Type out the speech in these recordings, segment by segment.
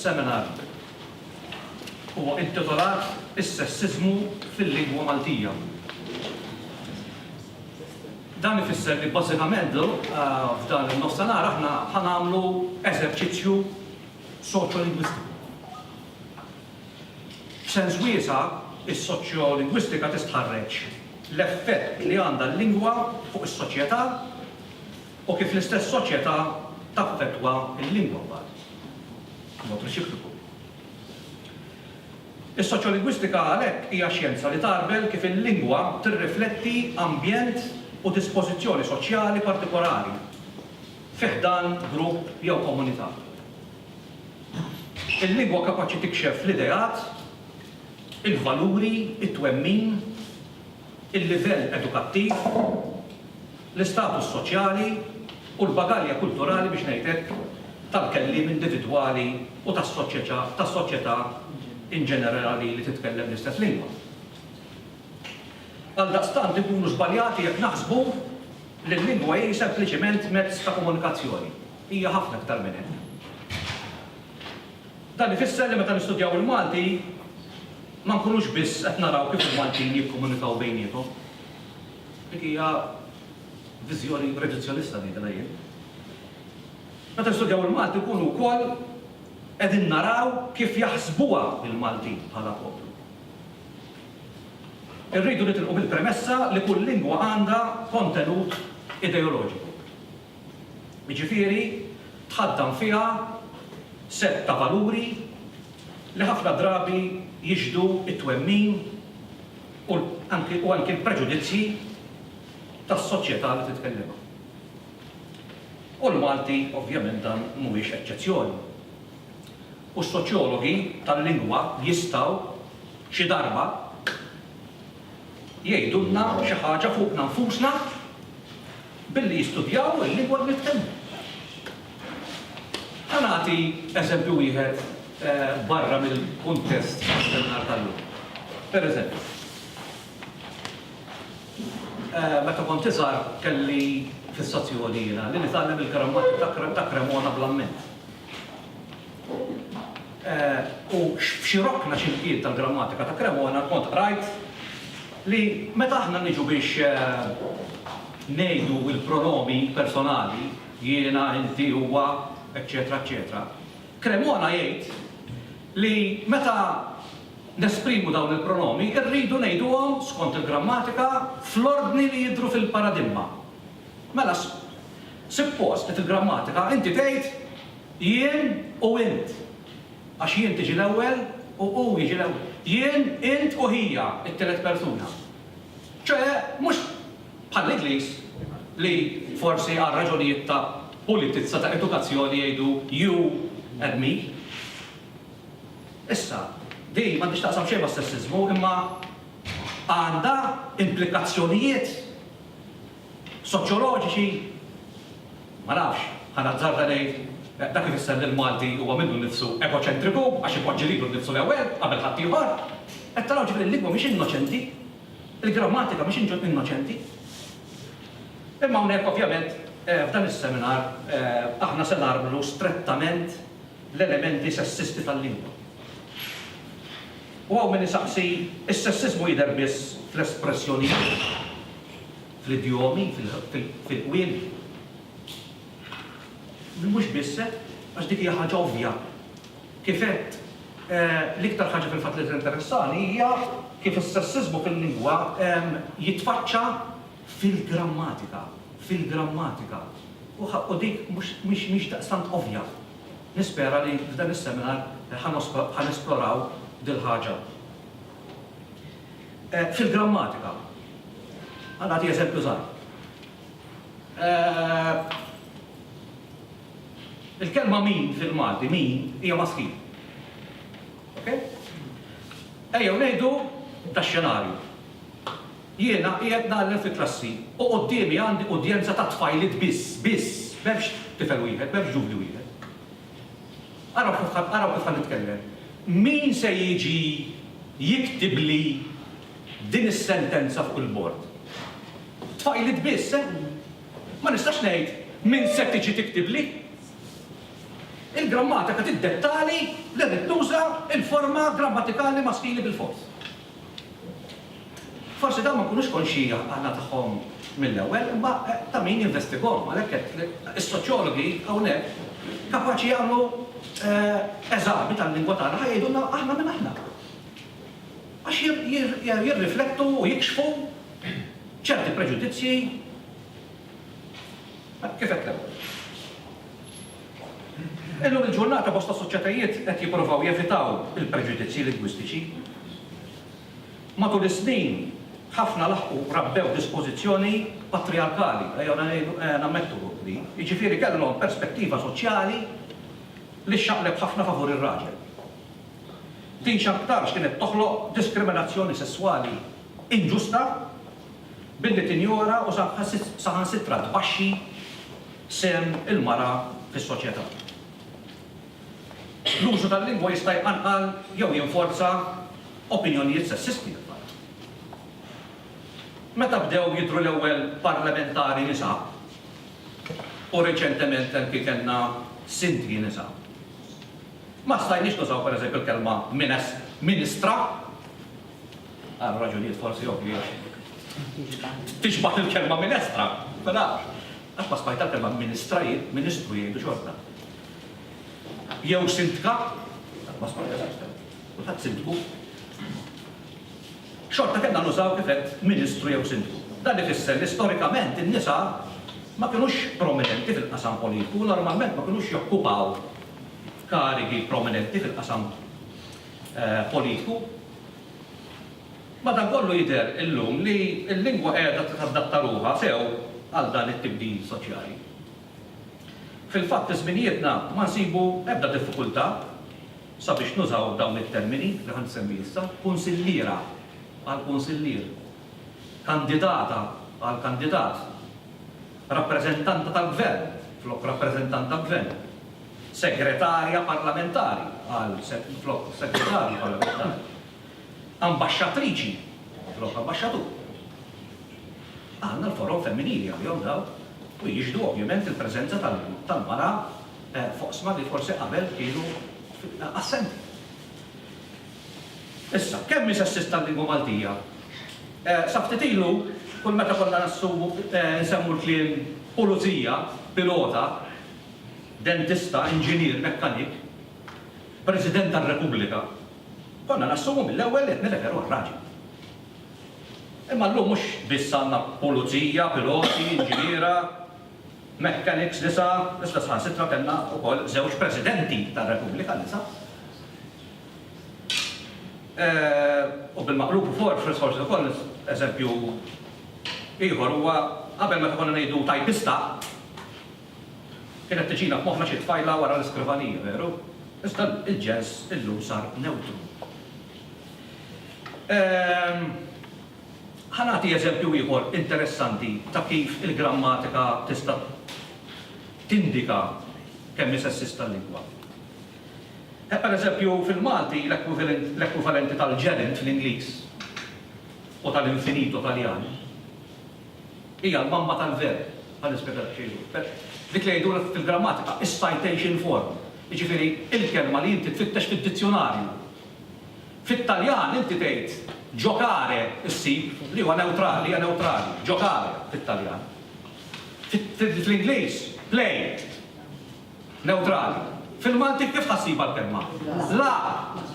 seminar huwa intitolat Is-sessizmu fil-lingwa Maltija. Dan ifisser li bażikament eh, f'dan il-nofsenar aħna ħanamlu eżerċizzju soċjolingwistiku. F'sens wiesa', is-soċjolingwistika tistħarreġ l-effett li għandha l-lingwa fuq is-soċjetà u kif l-istess soċjetà taffettwa l-lingwa mbagħad b'mod reċiproku. Is-soċjolingwistika għalhekk hija xjenza li tgħarbel kif il-lingwa tirrifletti ambjent u dispożizzjoni soċjali partikolari. fi ħdan grupp jew komunità. Il-lingwa kapaċi tikxef l-ideat, il-valuri, it-twemmin, il-livell edukattiv, l-istatus soċjali u l-bagalja kulturali, biex ngħid hekk, tal-kelliem individwali u tas-soċjetà inġenerali li titkellem l-istess lingwa. Għaldaqstant inkunu żbaljati jekk naħsbu li l-lingwa hi sempliċiment mezz ta' komunikazzjoni. Hija ħafna iktar minn hekk. Dan ifisser li meta nistudjaw il-Malti ma nkunux biss qed naraw kif il-Maltin jikkomunikaw bejniethom. Dik hija viżjoni reduzzjonista ngħidilha jien. Meta nistudjaw il-Malti nkunu wkoll qegħdin naraw kif jaħsbuha l-Maltin bħala poplu. Irridu nitilqu mill-premessa li kull lingwa għandha kontenut ideoloġiku. Jiġifieri tħaddan fiha sett ta' valuri li ħafna drabi jixhdu t-twemmin u anki u anki l-preġudizzji tas-soċjetà li titkellimha. U l-Malti ovvjament dan mhuwiex eċċezzjoni. u s-soċjologi tal-lingwa jistgħu, xi darba, jgħidulna xi ħaġa fuqna nfusna billi jistudjaw il-lingwa li nitkellmu. Ħa nagħti eżempju wieħed barra mill-kuntest tas-seminar tal-lum. Pereżempju, meta kont iżgħar kelli fissazzjoni jiena li nitgħallem il-grammatika ta' Cremona bl-amment. U f'xi rokna xiltiet tal-grammatika ta' Cremona kont qrajt li meta aħna niġu biex ngħidu l-pronomi personali, jiena, inti, huwa, eċċetera eċċetera, Cremona jgħid li meta nesprimu dawn il-pronomi rridu ngħiduhom, skont il-grammatika, fl-ordni li jidhru fil-paradimma. Mela suppost li fil-grammatika inti tgħid jien u int. Għax jien tiġi l-ewwel u hu jiġi l-ewwel. Jien, int u hija t-tielet persuna. Ċoe mhux bħall-Ingliż li forsi għal raġunijiet ta' pulitizza ta' edukazzjoni jgħidu you and me. Issa, din m'għandhiex taqsam xejn mas-sessiżmu imma għandha implikazzjonijiet soċjoloġiċi, ma nafx, ħa nazzarda ngħid, dak ifisser li l-Malti huwa minnu nnifsu egoċentriku għax ipoġġi lilu nnifsu l-ewwel qabel ħaddieħor. Qed taraw ġifieri li l-lingwa mhix innoċenti, il-grammatika mhix innoċenti. Imma hawnhekk ovvjament f'dan is-seminar aħna se narmlu strettament l-elementi sessisti tal-lingwa. U hawn min isaqsi, Is-sessiżmu jidher biss fl-espressjonijiet, fl-idjomi, fil-qwiel? Mhux biss hekk, għax dik hija ħaġa ovvja. Kif għedt, l-iktar ħaġa fil-fatt li tinteressani hija kif is-sessiżmu fil-lingwa jitfaċċa fil-grammatika, fil-grammatika. U dik mhix daqstant ovvja. Nispera li f'dan is-seminar ħa nesploraw dil-ħaġa. Fil-grammatika, ħa nagħti eżempju żgħir. Il-kelma min fil-Malti, min, hija maskil. Okej? Ejjew ngħidu tax-xenarju. Jiena qiegħed ngħallem fi klassi u quddiemi għandi udjenza ta' tfajliet biss, biss, m'hemmx tifel wieħed, m'hemmx ġuvni wieħed. Araw kif ħa, araw kif ħa nitkellem. Min se jiġi jiktibli din is-sentenza fuq il-bord? Tfajliet biss, eh? Ma nistax ngħid min se tiġi tiktibli. Il-grammatika tiddettali li rrid nuża l-forma grammatikali maskili bilfors. Forsi dawn ma jkunux konxji għan-għana tagħhom mill-ewwel, imma ta' min jinvestigahom. Għalhekk għedt li s-soċjologi hawnhekk kapaċi jagħmlu eżami tal-lingwa tagħna ħa jgħidulna aħna min aħna. Għax jirriflettu u jikxfu ċerti preġudizzji kif għedt l-ewwel. Illum il-ġurnata bosta soċjetajiet qed jipprovaw jevitaw il-preġudizzji lingwistiċi. Matul is-snin, ħafna laħqu rabbew dispożizzjoni patrijarkali, ejjew ngħidu, nammettu din, jiġifieri kellhom perspettiva soċjali li xxaqleb ħafna favur ir-raġel. Din x'aktarx kienet toħloq diskriminazzjoni sesswali inġusta. billi tinjora u saħansitra tbaxxi sehem il-mara fis-soċjetà. L-użu tal-lingwa jista' jqanqal jew jinforza opinjonijiet sessisti fil-fatt. Meta bdew jidhru l-ewwel parlamentari nisa, u reċentement anki kellna sindki nisa, ma stajniex nużaw pereżempju l-kelma ministra. Għal raġunijiet forsi ovvji għax. Tixbah il-kelma minestra, ma nafx. Għax ma smajtha l-kelma ministra jien, ministru jgħidu xorta. Jew sindka, qatt ma smajtha sindka. Kulħadd sindku. Xorta kellna nużaw kif għedt ministru jew sindku. Dan ifisser li storikament in-nisa ma kinux prominenti fil-qasam politiku u normalment ma kinux jokkupaw karigi prominenti fil-qasam politiku. Madankollu jidher illum li l-lingwa qiegħda tadatta ruħha sew għal dan it-tibdil soċjali. Fil-fatt fi żminijietna ma nsibu ebda diffikultà sabiex nużaw dawn it-termini li ħa nsemmi issa, kunsilliera għal kunsillier, kandidata għal kandidat, rappreżentanta tal-gvern flok rappreżentant tal-gvern. Segretarja Parlamentari, qal flok Segretarju Parlamentari. Ambaxxatriċi, flok Ambaxxatur. Għandna l-forom femminili għalihom dawn u jixhdu ovvjament il-preżenza tal-mara f'oqsma li forsi qabel kienu assenti. Issa, kemm hi sessist tal-lingwa Maltija? Sa ftit ilu, kull meta konna nsemmu l-kliem pulizija, pilota, dentista, inġinier, mekkanik, President tar-Repubblika, konna nassumu mill-ewwel li qed nirreferu għal raġel. Imma llum mhux biss għandna pulizija, piloti, inġiniera, mechanics nisa, iżda saħansitra kellna wkoll żewġ Presidenti tar-Repubblika nisa. U bil-maqlub u forsi wkoll eżempju ieħor huwa qabel meta konna ngħidu tajpista, Kienet tiġina f'moħħna xi tfajla wara l-iskrivanija, veru? Iżda l-ġens illum sar newtru. Ħa nagħti eżempju ieħor interessanti ta' kif il-grammatika tista' tindika kemm hi sessista l-lingwa. Pereżempju, fil-Malti l-ekwivalenti tal-gerund fl-Ingliż u tal-infinito Taljan Hija l-mamma tal-verb, bħal ispjega Xejrun. Dik li jgħidulha fil-grammatika is-citation form, jiġifieri l-kelma li inti tfittex fid-dizzjunarju. Fit-Taljan inti tgħid giocare ssib, li huwa newtrali, hija newtrali, giocare fit-Taljan. Fl-Ingliż play, newtrali. Fil-Malti kif ħa ssibha l-kelma? La!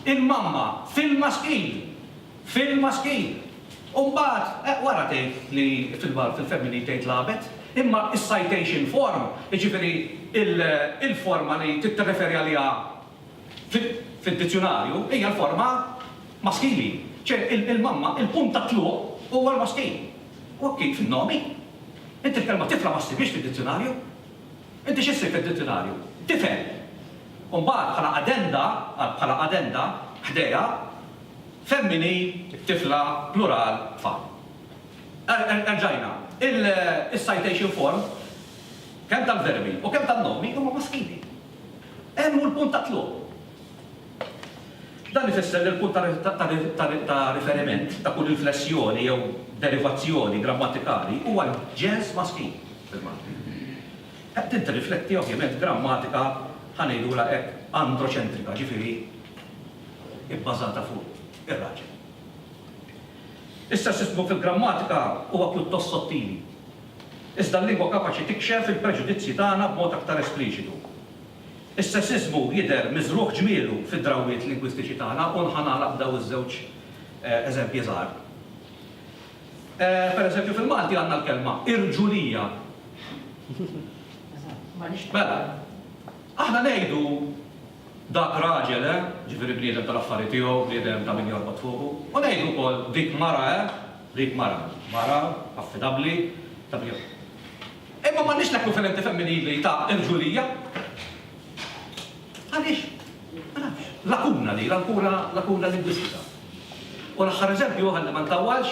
Il-mamma fil-maskil! Fil-maskil. U mbagħad wara tgħid li fil-femminil tgħid lagħbet. Imma is-citation form, jiġifieri il-forma li tirreferi għaliha fid-dizzjunarju hija l-forma maskili. Ċe il-mamma, il-punt tat-tluq huwa l-maskil. U hekk hi fin-nomi. Inti l-kelma tifla ma ssibhiex fid-dizzjunarju. Inti xi ssib fid-dizzjunarju? Tifel. U mbagħad bħala addenda, bħala addenda, ħdejha, Femminil, tifla, plural, tfal. Erġajna, is-citation form kemm tal-verbi u kemm tan-nomi huma maskili. Hemm hu l-punt ta' tluq. Dan ifisser li l-punt ta' riferiment ta' kull inflessjoni jew derivazzjoni grammatikali huwa l-ġens maskil fil-Malti. Din tirrifletti ovvjament grammatika, ħa ngħidulha hekk, androċentrika, ġifieri, ibbażata fuq ir-raġel. Is-sessismu fil-grammatika huwa pjuttost sottili, iżda l-lingwa kapaċi tikxef il-preġudizzji tagħna b'mod aktar espliċitu. Is-sessismu jidher miżrugħ ġmielu fid-drawwiet lingwistiċi tagħna u nħa nagħlaq b'daw iż-żewġ eżempji żgħar. Pereżempju fil-Malti għandna l-kelma irġulija. Mela, aħna ngħidu, Dak raġel, eh? Ġifieri bniedem tal-affari tiegħu, bniedem ta' min jorbot fuqu. U ngħidu wkoll dik mara, eh? Dik mara. Mara affidabbli, ta' min jorbot fuqha. Imma m'għandniex l-ekwivalenti femminili ta' irġulija. Għaliex? Ma nafx. Lakuna din, ankura lakuna lingwistika. U l-aħħar eżempju, ħalli ma ntawwalx,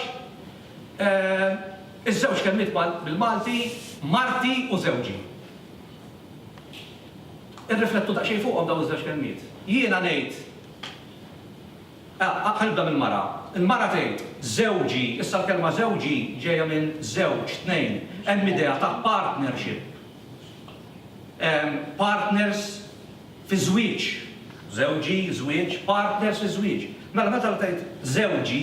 iż-żewġ kelmiet bil-Malti marti u żewġi. Irriflettu daqsxejn fuqhom dawn iż-żewġ kelmiet. Jiena ngħid, ah, ħa nibda mill-mara. Il-mara tgħid, żewġi, issa l-kelma żewġi ġejja minn żewġ, tnejn. Hemm idea ta' partnership. Partners fi żwieġ. Żewġi, żwieġ, partners fi żwieġ. Mela meta tgħid żewġi,